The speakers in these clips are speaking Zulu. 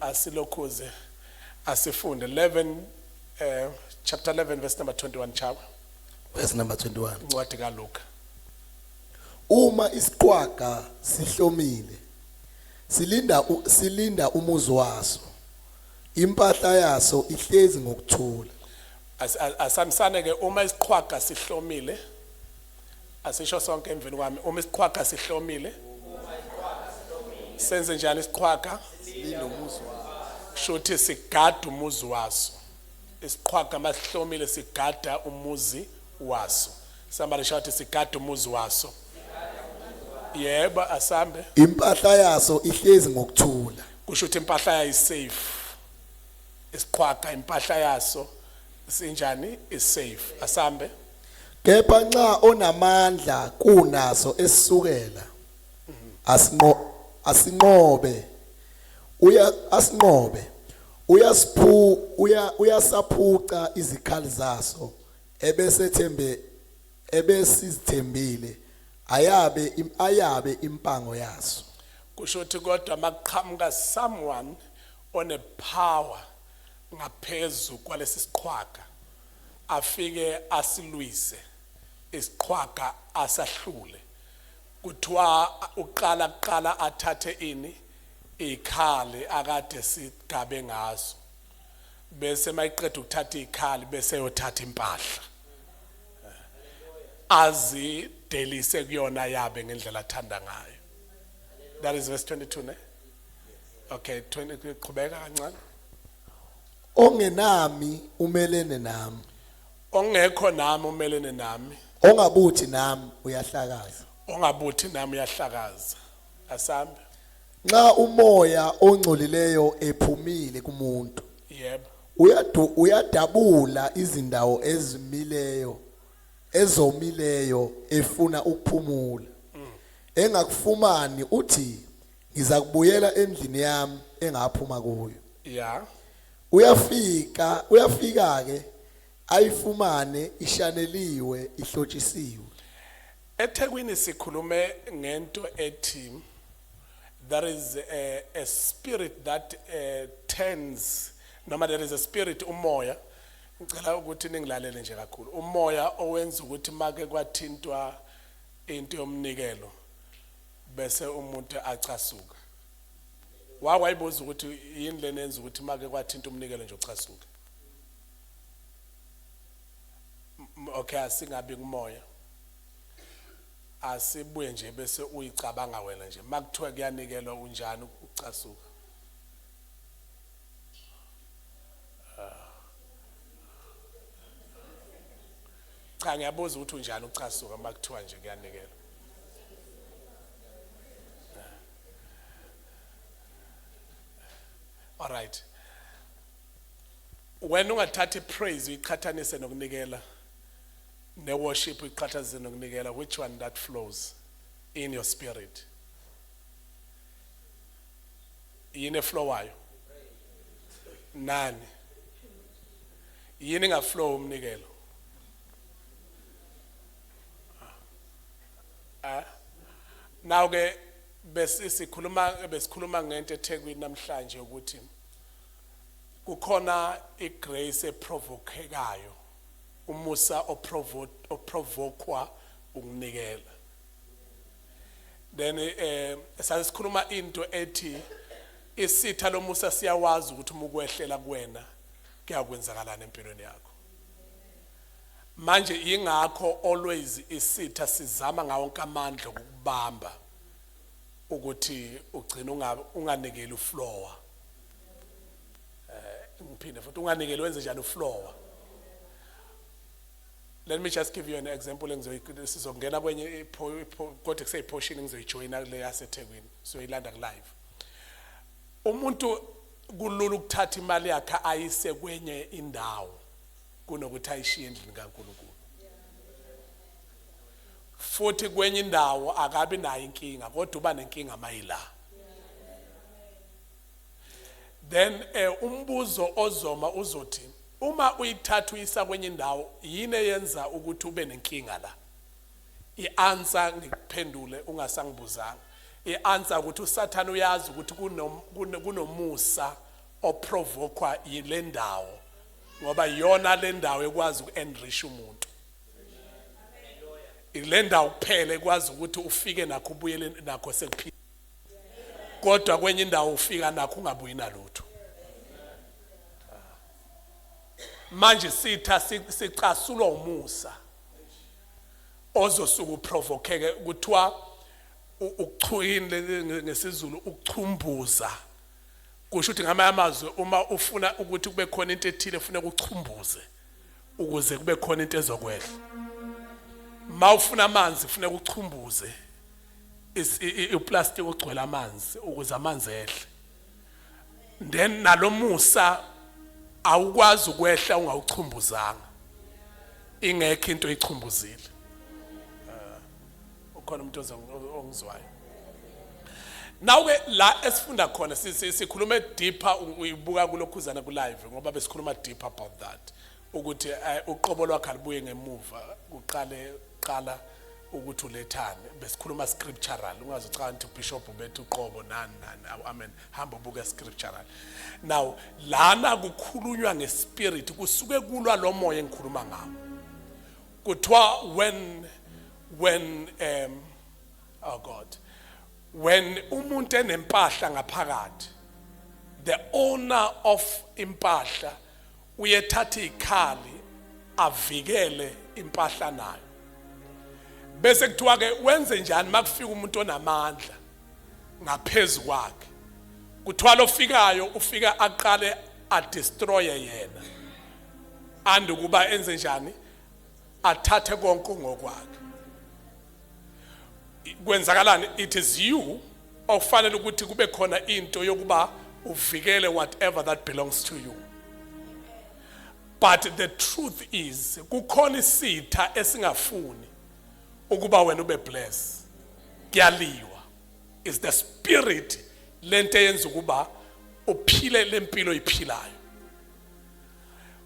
asilokhuze asifunde 11 eh chapter 11 verse number 21 chawa verse number 21 incwadi kaLuka uma isiqwaga sihlomile silinda silinda umuzi waso impahla yaso ihlezi ngokuthula asamisane ke uma isiqhwaga sihlomile Asisho sonke emveni kwami uma isiqhwaga sihlomile. Senze njani isiqhwaga? Linomuzi waso. Shuthi sigada umuzi waso. Isiqhwaga masihlomile sigada umuzi waso. Somebody shout sigada umuzi waso. Yebo asambe. Impahla yaso ihlezi ngokuthula. Kusho ukuthi impahla yayo isafe. Isiqhwaga impahla yaso sinjani isafe. Asambe. Kepha nxa onamandla kunaso esukela asinqo asinqobe uya asinqobe uyasiphu uya uyasaphuca izikhali zaso ebesethembe ebesizithembile ayabe ayabe impango yaso kusho ukuthi kodwa makuqhamuka someone one power ngaphezu kwalesi siqhwaga afike asilwise isiqhwaga asahlule kuthiwa uqala kuqala athathe ini ikhali akade sigabe ngazo bese mayiqeda ukuthatha ikhali bese yothatha impahla azidelise kuyona yabe ngendlela athanda ngayo that is verse 22 ne okay 20 qhubeka kancane Ongenami umelene nami. Ongekho nami umelene nami. Ongabuthi nami uyahlakaza. Ongabuthi nami uyahlakaza. Asambe. Nxa umoya ongcolileyo ephumile kumuntu. Yebo. Uyadu uyadabula izindawo ezimileyo ezomileyo efuna ukuphumula. Engakufumani uthi ngizakubuyela endlini yami engaphuma kuyo ya uyafika uyafika ke ayifumane ishaneliwe ihlotshisiwe ethekwini sikhulume ngento ethi there is a, a spirit that uh, turns noma there is a spirit umoya ngicela ukuthi ningilalele nje kakhulu umoya owenza ukuthi make kwathintwa into yomnikelo bese umuntu acasuka wake wayibuza ukuthi yini lena yenza ukuthi make kwathinta umnikelo nje uchasuke okay asingabi kumoya asibuye nje bese uyicabanga wena nje makuthiwa kuyanikelwa unjani ucasuka Cha ngiyabuza ukuthi unjani ucasuka uma kuthiwa nje kuyanikelwa. All right. Wena ungathatha ipraise uyiqhathanise nokunikela ne worship uyiqhathanise nokunikela which one that flows in your spirit? Yini eflowayo? Nani? Yini nga flow umnikelo? Ah. Now ke besikhuluma besikhuluma ngento eThekwini namhlanje ukuthi kukhona igrace eprovokekayo umusa oprovokwa ukunikela then eh sasikhuluma into ethi isitha lomusa siyawazi ukuthi umukwehlela kuwena kuyakwenzakalana empilweni yakho manje ingakho always isitha sizama ngawo wonke amandla ukubamba ukuthi ugcina unga unganikeli uflower eh ngiphinde futhi unganikeli wenze njani uflower let me just give you an example engizosizongena kwenye kodwa kuseyiphoshin engizoyijoyina kule yaseThekwini soyilanda ku live Umuntu kulula ukuthatha imali yakhe ayise kwenye indawo kunokuthi ayishiye endlini kaNkulunkulu. Futhi kwenye indawo akabi nayo inkinga kodwa uba nenkinga mayila. Then eh umbuzo ozoma uzothi uma uyithatha uyisa kwenye indawo yini eyenza ukuthi ube nenkinga la? I answer ngikuphendule ungasangibuzanga. I answer ukuthi uSathane uyazi ukuthi kunomusa oprovokwa yilendawo ngoba yona lendawo ekwazi ukuenrich umuntu. Ilendawo kuphela ekwazi ukuthi ufike nakho ubuyele nakho sekuphila. Kodwa kwenye indawo ufika nakho ungabuyi nalutho. Manje sitha sicasulwa umusa. ozosuke uprovokeke kuthiwa ukuchuyini ngesizulu ukuchumbuza kusho ukuthi ngamanye amazwi uma ufuna ukuthi kube khona into ethile kufuneka uchumbuze ukuze kube khona into ezokwehla ma ufuna amanzi kufuneka uchumbuze uplastic ogcwele amanzi ukuze amanzi ehle then nalomusa awukwazi ukwehla ungawuchumbuzanga ingekho into eyichumbuzile ah, ukhona umuntu ongizwayo Nawe la esifunda khona sikhuluma deeper uyibuka kulokhuzana ku live ngoba besikhuluma deeper about that. ukuthi eh, uqobo lwakhe alibuye ngemuva kuqale qala ukuthi ulethane besikhuluma scriptural ungazi cha nti bishop bethi uqobo nani nani awu amen hamba ubuke scriptural now lana kukhulunywa ngespirit kusuke kulwa lo moya engikhuluma ngawo kuthiwa when when um oh god when umuntu enempahla ngaphakathi the owner of impahla uyethatha ikhali avikele impahla nayo bese kuthiwa ke wenze njani makufika umuntu onamandla ngaphezulu kwakhe kuthiwa lofikayo ufika aqale adestroye yena andukuba enze njani athathe konke ngokwakhe kwenzakalani it is you okufanele ukuthi kube khona into yokuba uvikele whatever that belongs to you but the truth is kukhona isitha esingafuni ukuba wena ube bless kuyaliwa is the spirit lento yenza ukuba uphile lempilo iphilayo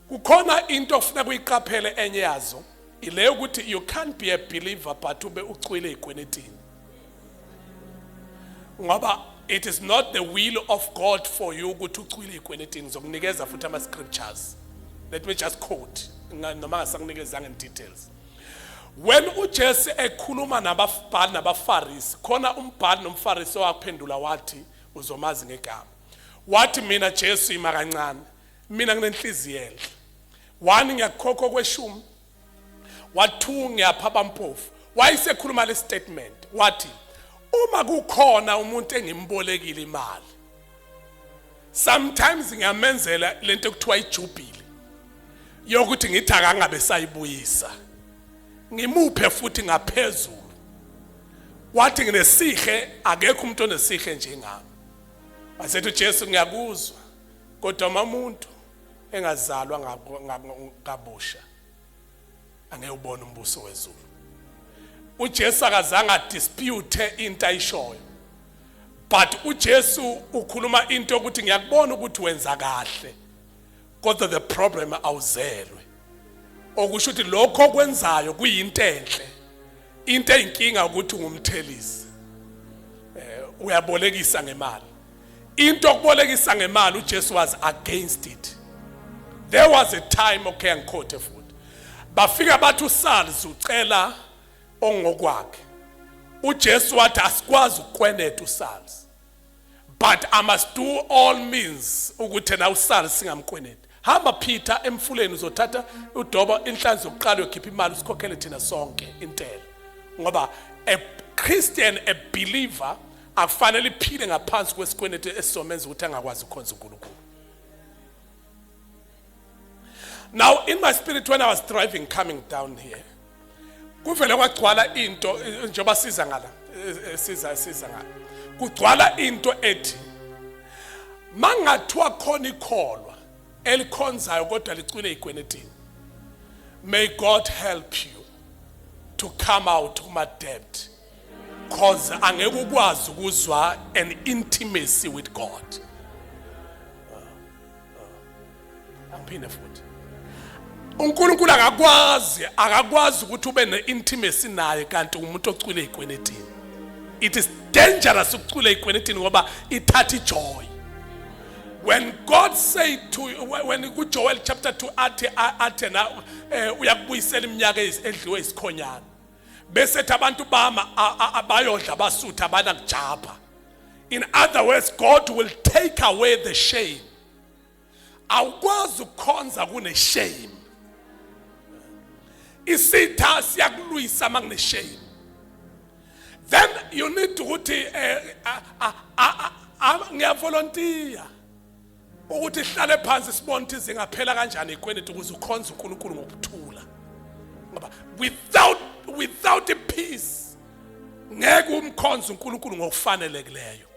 kukhona into ofuna kuyiqaphele enye yazo ileyo ukuthi you can't be a believer but ube ucwile ikwenetini ngoba it is not the will of God for you ukuthi ucwile ikwenetini zokunikeza futhi ama scriptures let me just quote noma ngasakunikezanga in details when uJesu ekhuluma nababhali nabafarisi khona umbhali nomfarisi owaphendula wathi uzomazi ngegama Wathi mina Jesu ima kancane. Mina nginenhliziyo enhle. Wani ngiyakukhokha okweshumi. Wathu ngiyapha abampofu. Wayesekhuluma le statement. Wathi uma kukhona umuntu engimbolekile imali sometimes ngiyamenzela lento ekuthiwa ijubhile yokuthi ngithi akangabe sayibuyisa ngimuphe futhi ngaphezulu wathi nginesihle akekho umuntu onesihle njengami Wasethi uJesu ngiyakuzwa kodwa uma umuntu engazalwa ngabusha angeke ubone umbuso wezulu uJesu akazange adispute into ayishoyo but uJesu ukhuluma into ukuthi ngiyakubona ukuthi wenza kahle kodwa the problem awuzelwe okusho ukuthi lokho okwenzayo kuyinto enhle into eyinkinga ukuthi ungumthelisi eh uyabolekisa ngemali into okubolekisa ngemali uJesu was against it there was a time okay angikhothe futhi bafika bathi uSalz ucela ongokwakhe uJesu wathi asikwazi ukweneta uSalz but i must do all means ukuthi na usale singamkweneti hamba phitha emfuleni uzothatha udoba inhlanzi yokuqala yokhipha imali usikhokhele thina sonke intela ngoba a christian a believer akufanele iphile ngaphansi kwesikweneti esizomenza ukuthi angakwazi ukukhonza unkulunkulu Now in my spirit when I was driving coming down here kuvele kwagcwala into njengoba siza ngala siza siza ngala kugcwala into ethi mangathiwa khona ikholwa elikhonzayo kodwa licwile igwenetini may God help you to come out kuma debt cause angeke ukwazi ukuzwa an intimacy with God angiphinde futhi uNkulunkulu akakwazi akakwazi ukuthi ube ne-intimacy naye kanti umuntu ocwile ey'kwenetini it is dangerous ukucwila ey'kwenetini ngoba ithatha ijoy when god said to when kujoel chapter 2 athi athi na eh, uyakubuyisela iminyaka edliwe isikhonyana bese ethi abantu bama abayodla abasutha abanakujabha in other words god will take away the shame awukwazi ukukhonza kuneshame isitha siyakulwisa uma kuneshame then you need ukuthi eh, ngiyavolontiya ukuthi sihlale phansi sibone ukuthi zingaphela kanjani ikweleti ukuze ukhonze uNkulunkulu ngokuthula ngoba without without a peace ngeke umkhonze uNkulunkulu ngokufanelekileyo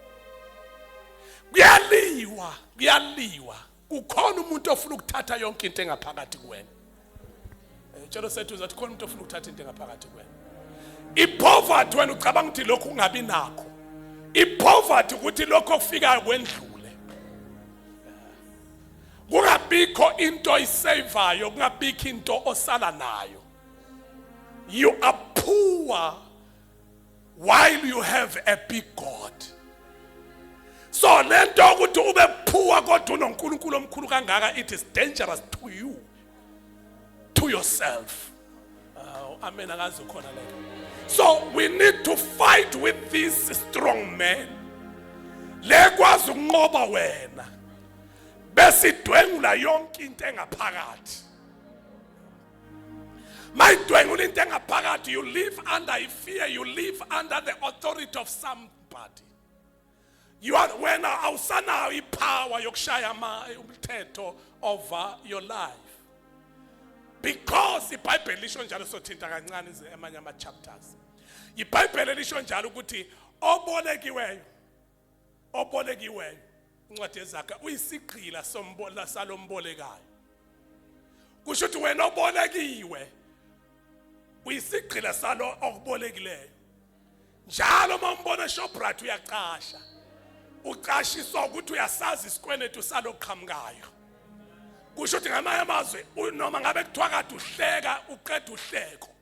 kuyaliwa kuyaliwa kukhona umuntu ofuna ukuthatha yonke into engaphakathi kuwena Ngicela useduze athi khona umuntu ofuna ukuthatha into engaphakathi kuwena. Ipoverty wena ucabanga ukuthi lokhu ungabi nakho. Ipoverty ukuthi lokho okufikayo kwendlule. Kungabikho into oyisaveayo, kungabikho into osala nayo. You are poor while you have a big God so lento ukuthi ube phuwa kodwa unoNkulunkulu omkhulu kangaka it is dangerous to you to yourself uh, amen akazi ukhona lento so we need to fight with this strong man lekwazi ukunqoba wena besidwengula yonke into engaphakathi mayidwengula into engaphakathi you live under i fear you live under the authority of somebody you are wena awusanayo ipower yokushaya ama umthetho over your life because ibhayibheli lisho njalo sothinta kancane amanye ama chapters ibhayibheli lisho njalo ukuthi obolekiweyo obolekiweyo incwadi ezakhe uyisigqila sombola salombolekayo kusho ukuthi wena obolekiwe uyisigqila salo okubolekileyo njalo uma umbona shoprite uyacasha ucashiswa ukuthi uyasazi isikweletu saloqhamukayo kusho ukuthi ngamanye amazwi noma ngabe kuthiwa kade uhleka uqeda uhleko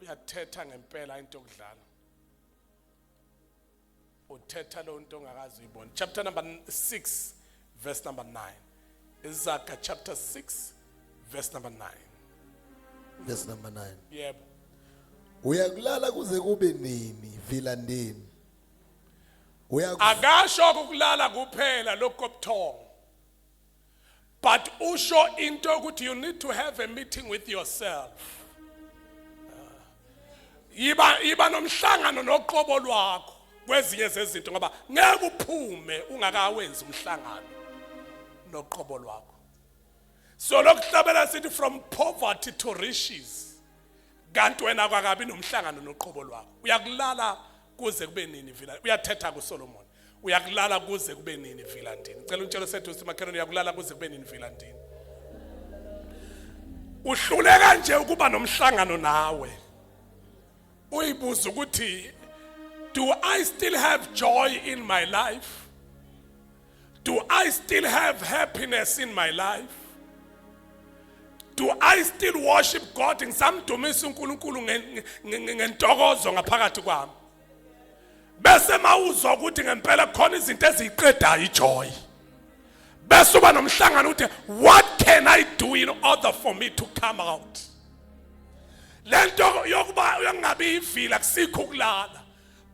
uyathetha ngempela into yokudlala uthetha lo nto ongakazi uyibona chapter number 6 verse number 9 izaga chapter 6 verse number 9 verse number 9 yebo uyakulala kuze kube nini vilandeni uyaku akasho ukulala kuphela lokho kobuthongo but usho into ukuthi you need to have a meeting with yourself yiba yiba nomhlangano noqobo lwakho kwezinye zezinto ngoba ngeke uphume ungakawenzi umhlangano noqobo lwakho so lokuhlabela sithi from poverty to riches kanti wena kwakabi nomhlangano noqobo lwakho uyakulala kuze kube nini vila uyathetha kuSolomon uyakulala kuze kube nini vila ndini ngicela untshelo sethu ukuthi makhelwane uyakulala kuze kube nini vila ndini uhluleka nje ukuba nomhlangano nawe uyibuza ukuthi do i still have joy in my life do i still have happiness in my life do i still worship god ngisamdumisa uNkulunkulu ngentokozo ngaphakathi kwami bese mawuzwa ukuthi ngempela khona izinto eziyiqedayo ijoy bese uba nomhlangano ukuthi what can i do in order for me to come out lento yokuba yokungabi ivila kusikho ukulala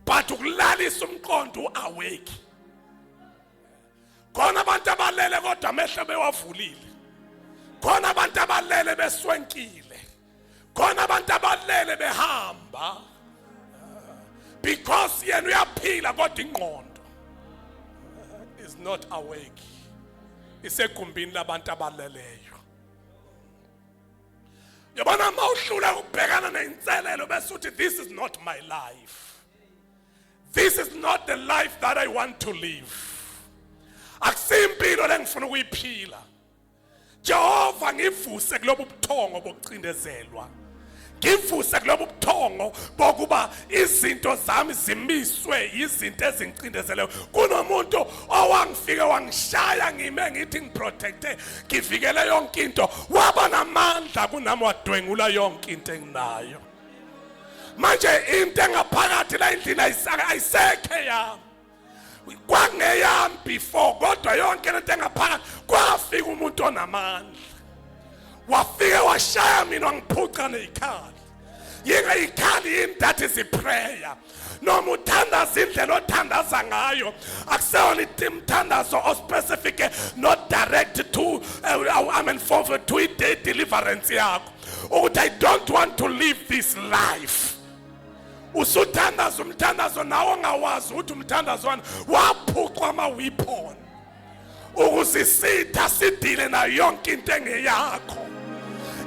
but ukulalisa umqondo uawake khona abantu abalele kodwa amehlo bewavulile khona abantu abalele beswenkile khona abantu abalele behamba because yena uyaphila kodwa ingqondo is not awake isegumbini labantu abaleleyo yabona uma uhlula ukubhekana neyinselelo bese uthi this is not my life this is not the life that i want to live akusiyimpilo lengifuna ukuyiphila Jehova ngivuse kulobu buthongo bokucindezelwa ngivuse kulobu buthongo bokuba izinto zami zimiswe yizinto ezingicindezeleyo kunomuntu owangifike wangishaya ngime ngithi ngiprotecte ngivikele yonke into waba namandla kunami wadwengula yonke into enginayo manje into engaphakathi la endlini ayisekhe yami kwangeyami before kodwa yonke lento engaphakathi kwafika umuntu onamandla wafike washaya mina wangiphuca neyikhali yingeyikhali yini that is iprayer noma uthandaza indlela othandaza ngayo akuseyona imthandazo ospecific not direct to uh, i mean for to i-day deliverance yakho ukuthi i don't want to live this life usuthandaza umthandazo nawe ongawazi ukuthi umthandazwana waphucwa amawiphon ukusisitha sidile nayo yonke into engeyakho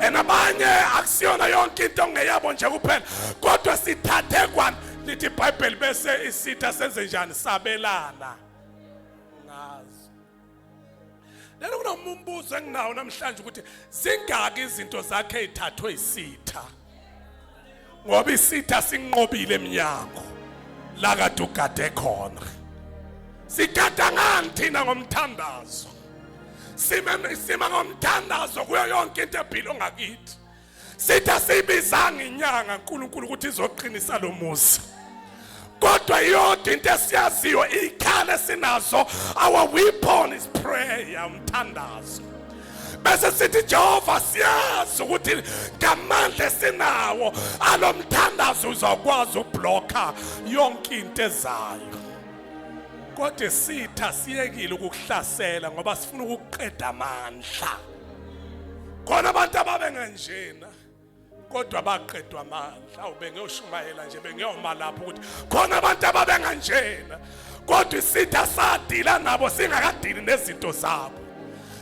and abanye akusiyona yonke into ongeyabo nje kuphela kodwa sithathe kwani lithi ibhayibheli bese isitha senze njani sabelana ngazo Lena kunoma umbuzo enginawo namhlanje ukuthi zingaki izinto zakhe ezithathwe isitha. Ngoba isitha sinqobile eminyango la kade ugade khona. Sigada ngani thina ngomthandazo? Sima sima ngomthandazo kuyo yonke into ephila ongakithi. sithi asiyibizanga inyanga uNkulunkulu ukuthi izoqinisa lo muzi kodwa iyodwa into esiyaziyo iy'khala esinazo our weapon is prayer umthandazo bese sithi Jehova siyazi ukuthi ngamandla esinawo alomthandazo uzakwazi ublocka yonke into ezayo kodwa sitha siyekile ukukuhlasela ngoba sifuna ukuqeda amandla khona abantu ababenganjena kodwa baqedwa amandla awu bengiyoshumayela nje bengiyoma lapho ukuthi khona abantu ababenganjena kodwa isitha sadila nabo singakadili nezinto zabo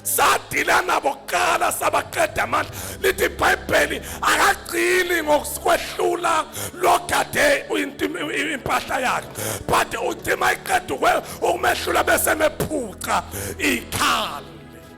sadila nabo kuqala sabaqeda amandla lithi ibhayibheli akagcini ngokwehlula logade impahla yakhe but uthi uma iqeda ukumeshula bese mephuca ikhanda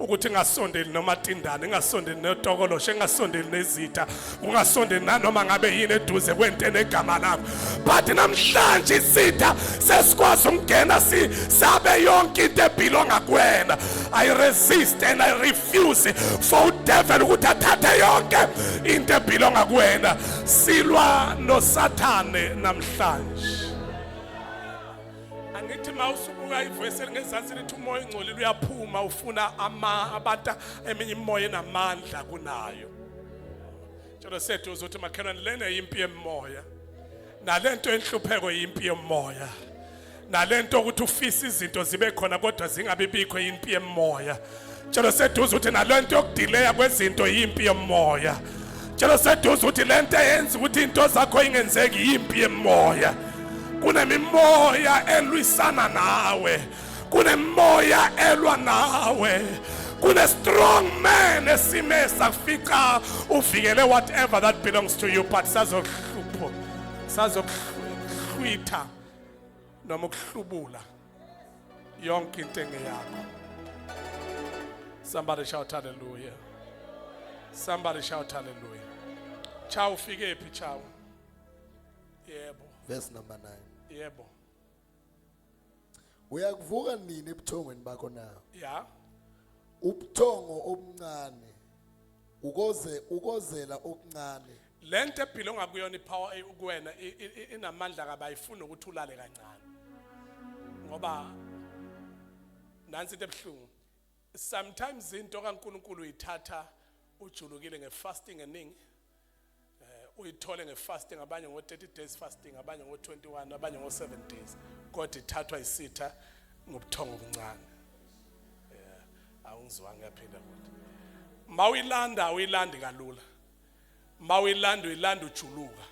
ukuthi ngasondeli nomatindane ngasondeli notokoloshe ngasondeli nezitha ungasondeli nanoma ngabe yini eduze kwento enegama lakho but namhlanje isitha sesikwazi ukungena si sabe yonke into ebhilonga kuwena i resist and i refuse for udevil ukuthi athathe yonke into ebhilonga kuwena silwa nosathane namhlanje angithi uma usubuka ivesi elingezansi lithi umoya ongcolile uyaphuma ufuna abantu eminye imimoya enamandla kunayo njalo sethu uzothi makhelwane lena yimpi yemoya nale nto enhlupheko yimpi yemoya nale nto ukuthi ufisa izinto zibe khona kodwa zingabibikho yimpi yemoya Cela seduze ukuthi nalento yokudileya kwezinto yimpi yomoya. Cela seduze ukuthi lento eyenza ukuthi into zakho ingenzeki yimpi yemoya. Kunemimoya elwisana nawe. Kunemoya elwa nawe. Kune strong man esime sakufica uvikele whatever that belongs to you but sazohlupho. Sazohlupho. Twitter. noma ukuhlubula yonke into engeyakho somebody shout hallelujah somebody shout hallelujah cha ufike phi cha yebo verse number 9 yebo uyakuvuka nini ebuthongweni bakho na ya ubuthongo obuncane ukoze ukozela okuncane Lento ephila ongakuyona ipower eh, kuwena inamandla kabi ayifuni ukuthi ulale kancane. Ngoba nansi into ebuhlungu. Sometimes into kaNkuluNkulu uyithatha ujulukile ngefasting eningi. Eh, uyithole ngefasting abanye ngo 30 days fasting abanye ngo 21 abanye ngo 7 days kodwa ithathwa isitha ngobuthongo obuncane eh, awungizwanga yaphinda futhi mawuyilanda awuyilandi kalula mawuyilanda uyilanda ujuluka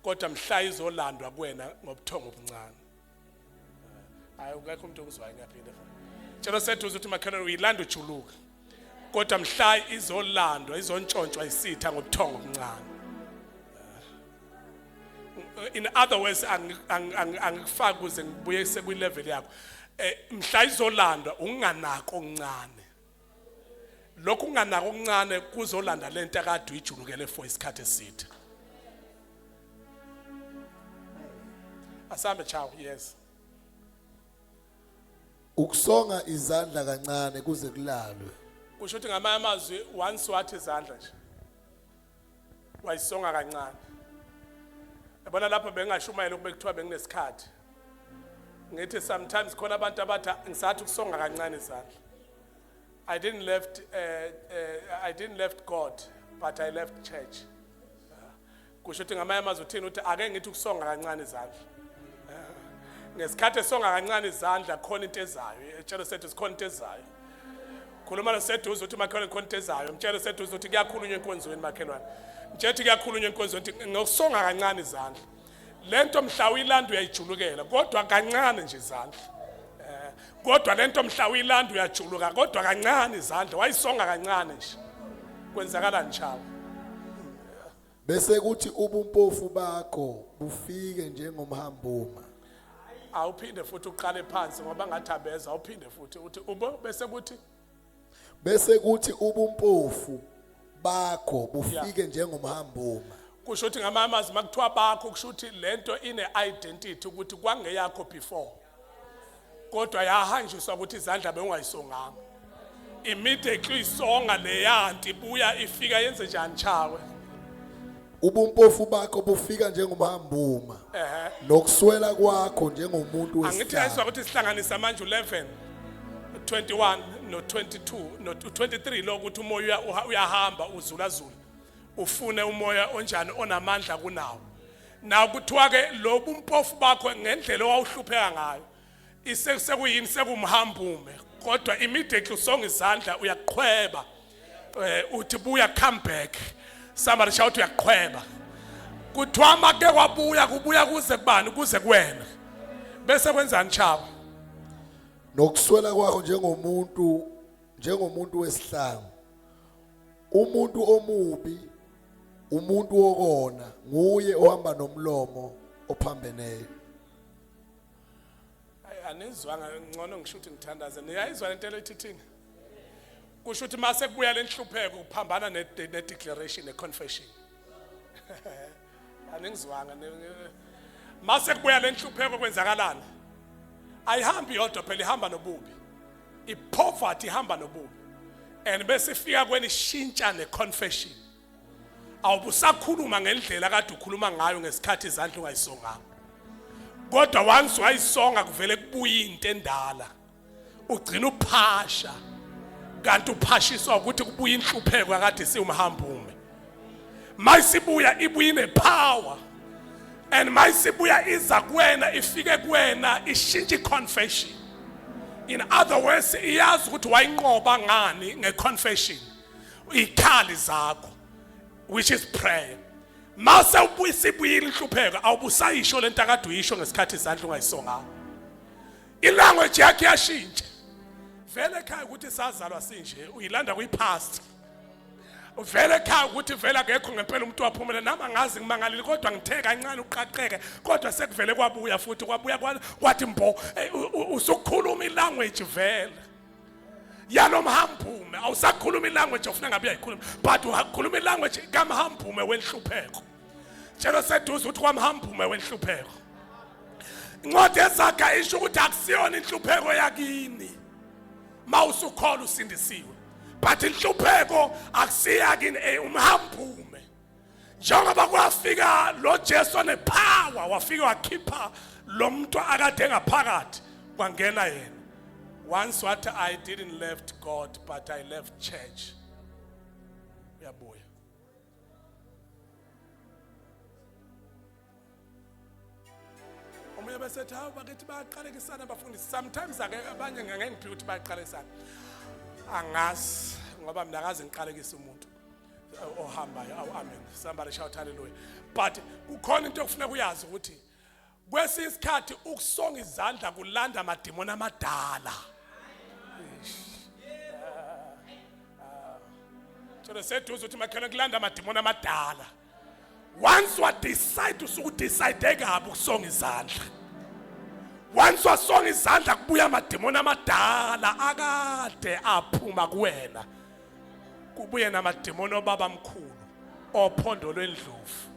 kodwa mhla izolandwa kuwena ngobuthongo obuncane hayi ukekho umuntu ongizwayo ngiyaphinde tshelo seduze ukuthi makhelwane uyilanda ujuluka kodwa mhla izolandwa izontshontshwa isitha ngobuthongo obuncane in other words angikufaki kuze ngibuye sekwilevel yakho eh, mhla izolandwa unganako okuncane lokhu kunganaka okuncane kuzolanda le nto akade uyijulukele for isikhathi eside asambe chawo yes ukusonga izandla kancane kuze kulalwe kusho ukuthi ngamanye amazwi once wathi izandla nje wayisonga kancane yabona lapho bengingashumayela ukube kuthiwa benginesikhathi ngithi sometimes khona abantu abathi ngisathi ukusonga kancane izandla i didn't left uh, uh, i didn't left god but i left church kusho ukuthi ngamanye amazwi uthini ukuthi ake ngithi ukusonga kancane izandla ngesikhathi esonga kancane izandla khona into ezayo etshelo sethu sikhona into ezayo khuluma noseduze uthi makhelwane khona into ezayo mtshele seduze uthi kuyakhulunywa enkonzweni makhelwane mtshele uthi kuyakhulunywa enkonzweni uthi ngokusonga kancane izandla le nto mhla uyilanda uyayijulukela kodwa kancane nje izandla eh, kodwa le nto mhla uyilanda uyajuluka kodwa kancane izandla wayisonga kancane nje kwenzakalani shawo bese kuthi ubumpofu bakho bufike njengomhambuma awuphinde futhi uqale phansi ngoba ngathambeza awuphinde futhi uthi ubo bese kuthi bese kuthi ubumpofu bakho bufike njengomhambuma kusho ukuthi ngamanye amazwi makuthiwa bakho kusho ukuthi lento ine identity ukuthi kwangeyakho before kodwa yahanjiswa ukuthi izandla bewungayisonganga immediately isonga leyanti buya ifika yenze njani chawe ubumpofu bakho bufika njengomhambuma ehe nokuswela kwakho njengomuntu angithi wesihlanu ayiswa ukuthi sihlanganisa manje u11 21 no 22 no 23 lo ukuthi umoya uya- uha- uyahamba uzulazula ufune umoya onjani onamandla kunawo na kuthiwa ke lobu mpofu bakho ngendlela owawuhlupheka ngayo isekuseyini sekumhambume kodwa immediately usonga izandla uyaqhweba eh, uthi buya come back somebody shout uyaqhweba kuthiwa make kwabuya kubuya kuze kubani kuze kuwena bese kwenzani chaba nokuswela kwakho njengomuntu njengomuntu wesihlangu umuntu omubi umuntu wokona nguye ohamba nomlomo ophambeneyo anizwanga ngcono ngisho ukuthi ngithandaze niyayizwa lento elithithini kusho ukuthi mase kubuya lenhlupheko kuphambana ne declaration ne confession aningizwanga mase kubuya lenhlupheko kwenzakalana ayihambi yodwa phela ihamba nobubi ipoverty ihamba nobubi and bese ifika kweni shintsha neconfession awubusakhuluma ngendlela kade ukhuluma ngayo ngesikhathi izandla ungayisonganga kodwa once wayisonga kuvele kubuye into endala ugcina uphasha kanti uphashiswa ukuthi kubuye inhlupheko akade siwumhambume mayisibuya ibuye ine power and mayisibuya iza kuwena ifike kuwena ishintshe iconfession in other words iyazi ukuthi wayinqoba ngani ngeconfession ikhali zakho which is prayer mase ubuyisibuyile inhlupheko awubusayisho lento akade uyisho ngesikhathi izandla ungayisonganga ilanguage yakhe yashintsha vele ekhaya ukuthi sazalwa sinje uyilanda kwi-past uvele ekhaya ukuthi vele akekho ngempela umuntu waphumela nami angazi ngimangalile kodwa ngithe kancane uqaqeke kodwa sekuvele kwabuya futhi kwabuya kwathi mbo usukhuluma ilanguage vele yalo mhambume awusakhuluma ilanguage ofuna ngabe uyayikhuluma but ukhuluma ilanguage kamhambume wenhlupheko tshelo seduze ukuthi kwamhambume wenhlupheko incwadi ezaga isho ukuthi akusiyona inhlupheko yakini mawusukhola usindisiwe but inhlupheko akusiya kini eh, umhambume njengoba kwafika lo Jesu wanepower wafika wakhipha lo muntu akade engaphakathi kwangena yena once what i didn't left god but i left church uyabuya omunye besethi hawu bakithi bayaqalekisana abafundisi sometimes ake abanye ngangengiphiwa ukuthi bayaqalekisana angazi ngoba mina akaze ngiqalekise umuntu ohambayo awu amen somebody shout hallelujah but kukhona into okufuneka uyazi ukuthi Kwesinye isikhathi ukusonga izandla kulanda amadimoni amadala. Tshela seduze uthi makhelwane kulanda amadimoni amadala. Once wa decide usuku decide kabi ukusonga izandla. Once wasonga izandla kubuya amadimoni amadala akade aphuma kuwena. kubuye namademoni obaba mkhulu ophondo lwendlovu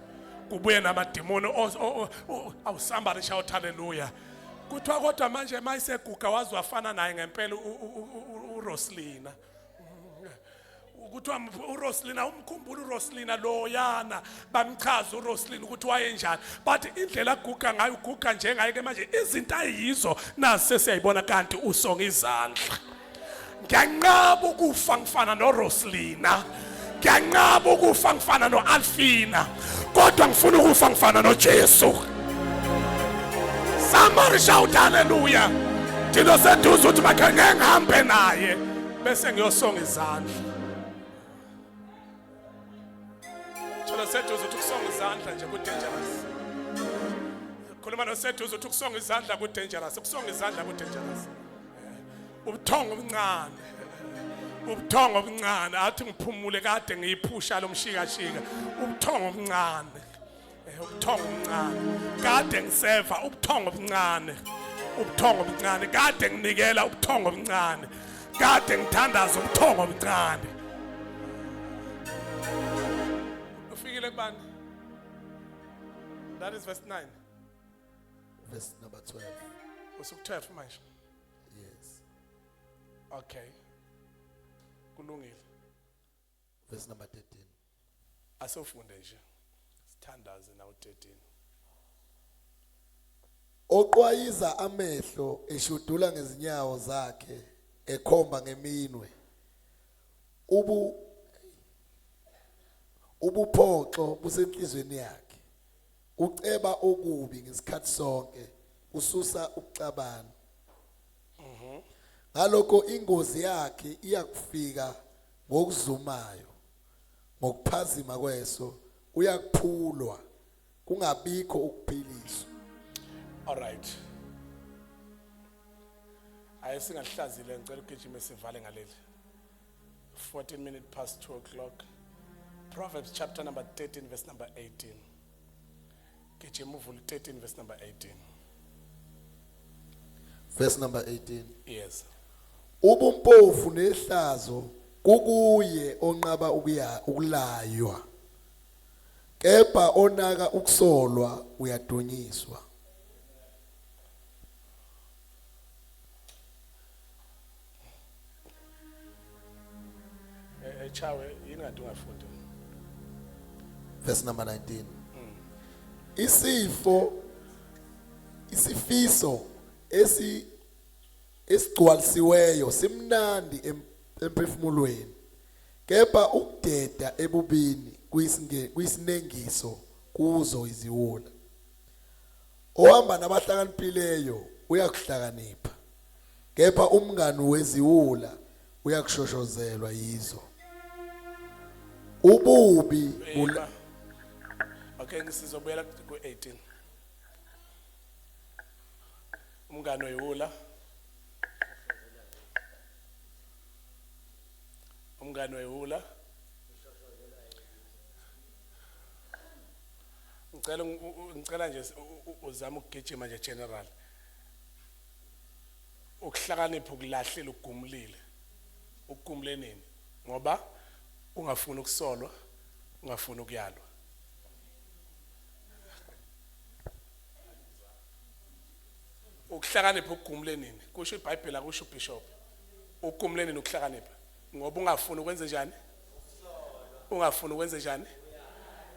kubuye namademoni awu somebody shout hallelujah kuthiwa kodwa manje mayiseguga waze wafana naye ngempela uRoslina kuthiwa uRoslina umkhumbula uRoslina loyana bamchaza uRoslina ukuthi wayenjani but indlela aguga ngayo uguga njengaye ke manje izinto ayizo nase siyayibona kanti usonga izandla ngiyanqaba ukufa ngifana noRoslina ngiyanqaba ukufa ngifana noAlfina kodwa ngifuna ukufa ngifana noJesu somebody shout hallelujah thina seduze ukuthi bakhe ngihambe naye bese ngiyosonga izandla Thola seduze uthi ukusonga izandla nje ku dangerous. Khuluma no seduze uthi ukusonga izandla ku dangerous. Ukusonga izandla ku dangerous. Ubuthongo obuncane. Ubuthongo obuncane athi ngiphumule kade ngiyiphusha lomshikashika. Ubuthongo obuncane. Eh, ubuthongo obuncane kade ngiseva ubuthongo obuncane ubuthongo obuncane kade nginikela ubuthongo obuncane kade ngithandaza ubuthongo obuncane ufikile kubani that is verse 9 verse number 12 usuku 12 manje yes okay kulungile verse number 13 asofunde nje sithandaze na u13 oqwayiza amehlo eshudula ngezinyawo zakhe ekhomba ngeminwe ubu ubuphoxo busenhlizweni yakhe uceba okubi ngesikhathi sonke ususa ukucabana ngalokho ingozi yakhe iyakufika ngokuzumayo ngokuphazima kweso uyakuphulwa kungabikho ukuphiliswa all right ayi singahlazile ngicela ugijime sivale ngaleli 14 minutes past 2 o'clock proverbs chapter number 13 verse number 18 gijima uvule 13 verse number 18 verse number 18 yes ubumpofu nehlazo kukuye onqaba ukuya ukulaywa kepha onaka ukusolwa uyadunyiswa Eh, eh chawe yini ngathi ungafundi. Verse number 19. Hmm. Isifo isifiso esi esigcwalisiweyo simnandi emphefumulweni kepha ukudeda ebubini kuyisinengiso kuzo iziwula ohamba nabahlakaniphileyo uyakuhlakanipha kepha umngani weziwula uyakushoshozelwa yizo ububi bula okay ngisizobuyela ku-18 umngani oyiwula umngani oyiwula ngicela ngicela nje uzama ukugijima nje general ukuhlakanipha ukulahlile ugumulile ugumule nini ngoba ungafuni ukusolwa ungafuni ukuyalwa ukuhlakanipha ugumule nini kusho ibhayibheli akusho ubishop ugumule nini ukuhlakanipha ngoba ungafuni ukwenze njani ungafuni ukwenze njani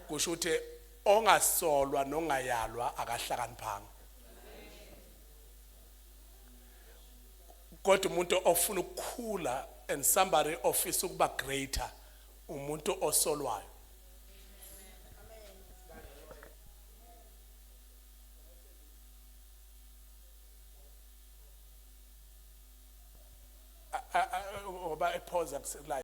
kusho ukuthi ongasolwa nongayalwa akahlakaniphanga kodwa umuntu ofuna ukukhula and somebody ofisa ukuba greater umuntu osolwayo ngoba ephoza kuselayo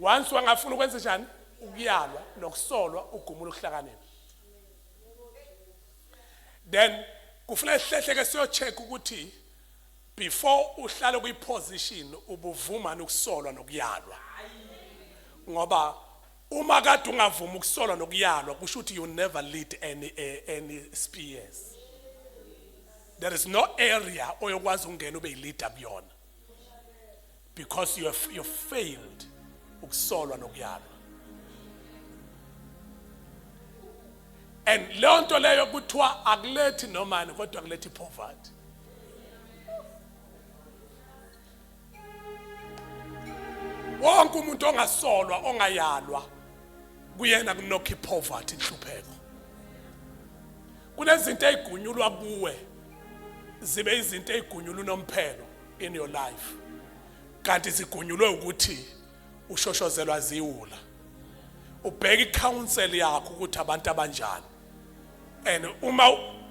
once wangafuna ukwenza njani ukuyalwa nokusolwa ugumula ukuhlakanipha then kufuneka sihlehlekke siyocheck ukuthi Before uhlale kwi position ubuvumani ukusolwa nokuyalwa. Ngoba uma kade ungavuma ukusolwa nokuyalwa kusho ukuthi you never lead any eh, any spears. There is no area oyokwazi ukungena ube yileader kuyona. because you have you failed ukusolwa nokuyalwa and leyo nto leyo kuthiwa akulethi nomani kodwa kulethi poverty wonke umuntu ongasolwa ongayalwa kuyena kunokho ipoverty inhlupheko kunezinto ezigunyulwa kuwe zibe izinto ezigunyulwa unomphelo in your life kanti zigunyulwe ukuthi ushoshozelwa ziwula ubheka icouncil yakho ukuthi abantu abanjani and uma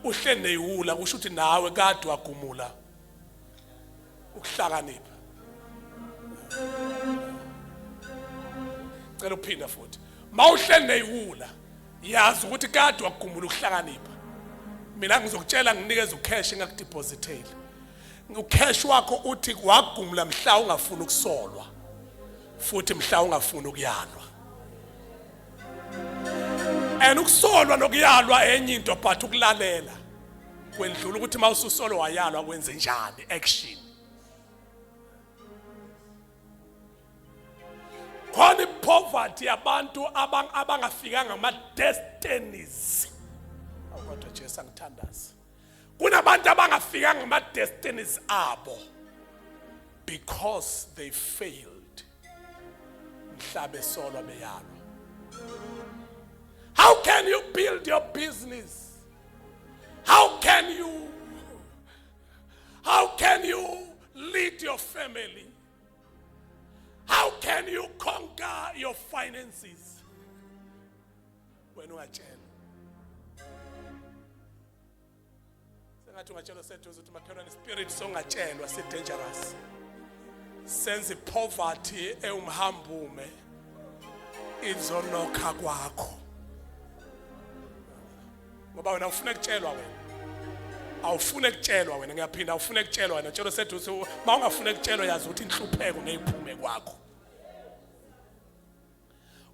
uhleli neyiwula kusho ukuthi nawe kade wagumula ukuhlakanipha cela uphinda futhi mawuhleli neyiwula yazi ukuthi kade wagumula ukuhlakanipha mina ngizokutshela nginikeza ucash engakudepositeli ucash wakho uthi wagumula mhla ungafuni ukusolwa futhi mhla ungafuni ukuyalwa and ukusolwa nokuyalwa enye into but ukulalela kwendlula ukuthi uma ususolo wayalwa kwenze njani action khona ipoverty yabantu abangafikanga ama destinies kodwa Jesu angithandazi kunabantu abangafikanga ama destinies abo because they failed mhlabe solo beyalo how can you build your business how can you how can you lead your family how can you conquer your finances wena ungatshelwa sengathi ungatshelwa seduze ukuthi makhelwane ispirit songatshelwa si-dangerous senza ipoverty ewumhambume izonokha kwakho ngoba wena ufuna kutshelwa wena awufune kutshelwa wena ngiyaphinda awufune kutshelwa wena tshelo seduze uma ungafune kutshelwa yazi ukuthi inhlupheko ngeyiphume kwakho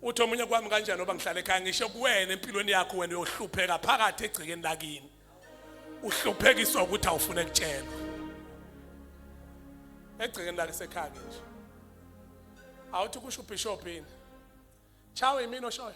uthi omunye kwami kanjani ngoba ngihlala ekhaya ngisho kuwena empilweni yakho wena uyohlupheka phakathi egcekeni lakini uhluphekiswa ukuthi awufune kutshelwa egcekeni lake sekhaya nje awuthi kusho ubishop yini chawe yimini oshoyo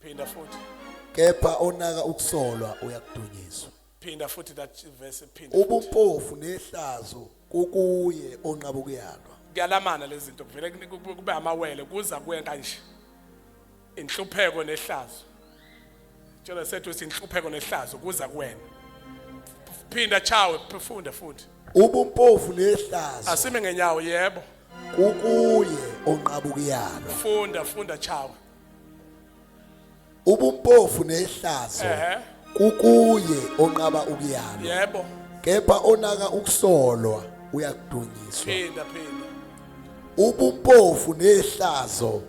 phinda futhi kepha onaka ukusolwa uyakudunyiswa phinda futhi that verse phinda ubumpofu nehlazo kukuye onqaba ukuyalwa kuyalamana lezi zinto kuvele kube amawele kuza kuye kanje inhlupheko nehlazo Tshela sethu sinhlupheko nehlazo kuza kuwena. Phinda chawe phefunda futhi. Ubumpofu nehlazo. Asime ngenyawo yebo. Kukuye onqabukiyayo. Funda funda chawe. ubumpofu nehlazo Ehhe. kukuye onqaba ukuyalwa Yebo. kepha onaka ukusolwa uyakudunyiswa Phinda phinda. ubumpofu nehlazo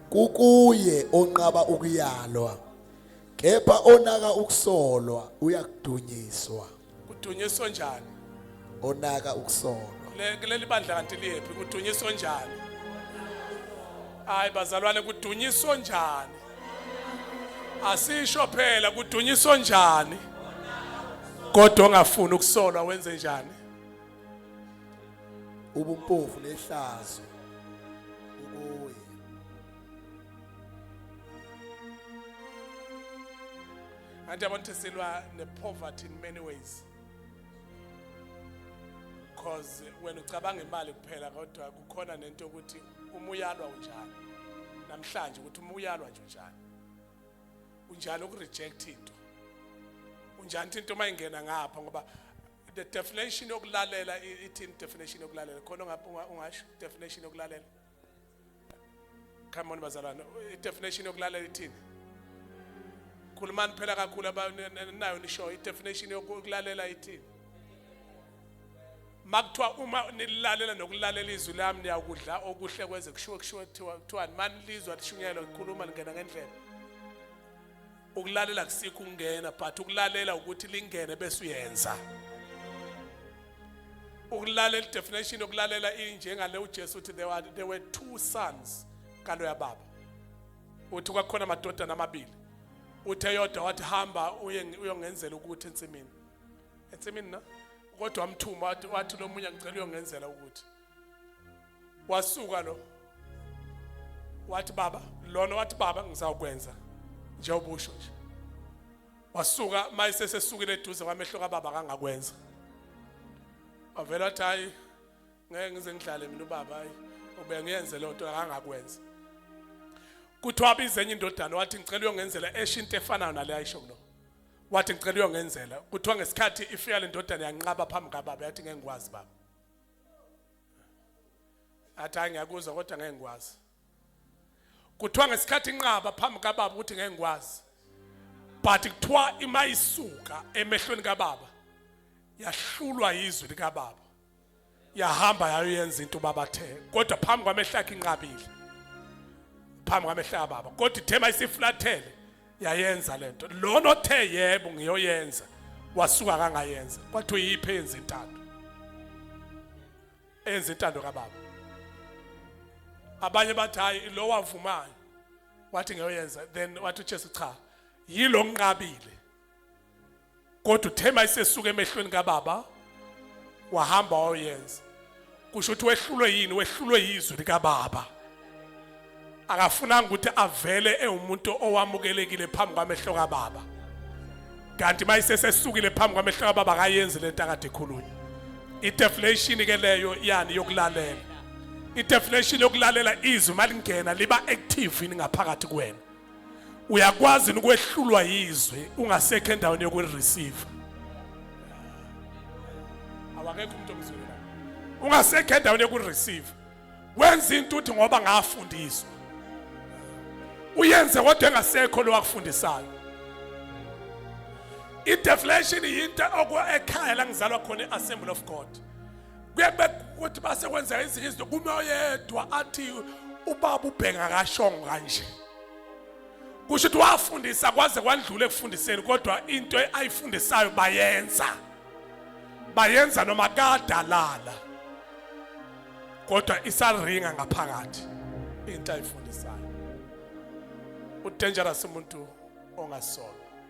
kukuye onqaba ukuyalwa kepha onaka ukusolwa uyakudunyiswa kudunyiswa njani onaka ukusolwa Le- kuleli bandla kanti liyephi kudunyiswa njani hayi bazalwane kudunyiswa njani asisho phela kudunyiswa njani kodwa ongafuni ukusolwa wenze njani ubumpofu nehlazo ukuye Anti abantu sesilwa ne poverty in many ways. Because when ucabanga imali kuphela kodwa kukhona nento ukuthi uma uyalwa unjani. Namhlanje ukuthi uma uyalwa nje unjani. Unjani ukureject into. Unjani into uma ingena ngapha ngoba the definition yokulalela ithini definition yokulalela khona ungasho definition yokulalela come on bazalwane i-definition yokulalela ithini khulumani phela kakhulu abanayo nisho i-definition yokulalela ithini makuthiwa uma nililalela nokulalela izwi lami niyakudla okuhle kweze kushiwo kushiwo kuthiwani manilizwa lishunyelwa likhuluma lingena ngendlela ukulalela kusikho ukungena but ukulalela ukuthi lingene bese uyenza ukulalela definition yokulalela injengale uJesu uthi there were, there were two sons kalo yababa uthi kwakhona amadodana amabili uthe yodwa wathi hamba uye uyongenzela ukuthi ensimini ensimini na kodwa amthuma wathi lomunye ngicela uyongenzela ukuthi wasuka lo wathi baba lona wathi baba ngizawukwenza njengoba usho nje wasuka mayisesesukile eduze kwamehlo kababa kangakwenza wavela wathi hayi ngeke ngize ngidlale mina ubaba hayi ube ngiyenze loo nto akangakwenza kuthiwa abize enye indodana wathi ngicela uyongenzela esho into efanayo nale ayisho kulo wathi ngicela uyongenzela kuthiwa ngesikhathi ifika le ndodana yanqaba phambi kababa yathi ngeke ngikwazi baba athi hayi ngiyakuzwa kodwa ngeke ngikwazi kuthiwa ngesikhathi inqaba phambi kababa ukuthi ngeke ngikwazi but kuthiwa ima isuka emehlweni kababa yahlulwa yizwi likababa yahamba yayoyenza into ubaba athe kodwa phambi kwamehlo akhe inqabile phambi kwamehlo kababa kodwa ithema isiflathele yayenza lento lona othe yebo ngiyoyenza wasuka kangayenza kwathi uyiphe yenza intando enza intando kababa abanye bathi hayi lo wavumayo wathi ngiyoyenza then wathi uJesu cha yilo ngiqabile kodwa uthe mayisesuka emehlweni kababa wahamba wayoyenza kusho ukuthi wehlulwe yini wehlulwe yizwi likababa akafunanga ukuthi avele ewumuntu owamukelekile phambi kwamehlo kababa kanti mayisesesukile phambi kwamehlo kababa akayenzi lento akade ekhulunywa ideflation ke leyo yani yokulalela ideflation yokulalela izwi malingena liba active ngaphakathi kwena uyakwazi ukwehlulwa yizwi ungasekho endaweni yokureceive awakekho umuntu omzwile ungasekho endaweni yokureceive wenza into uthi ngoba ngafundiswa uyenze kodwa engasekho lo wakufundisayo i-deflation yinto okwa ekhaya la ngizalwa khona i-assembly of god kuyebeka ukuthi base kwenzeka ezinye izinto kume oyedwa athi ubaba ubhenga kashongo kanje kusho ukuthi wafundisa kwaze kwadlula ekufundiseni kodwa into ayifundisayo bayenza bayenza noma kadalala kodwa isaringa ngaphakathi into ayifundisayo udangerous umuntu ongasola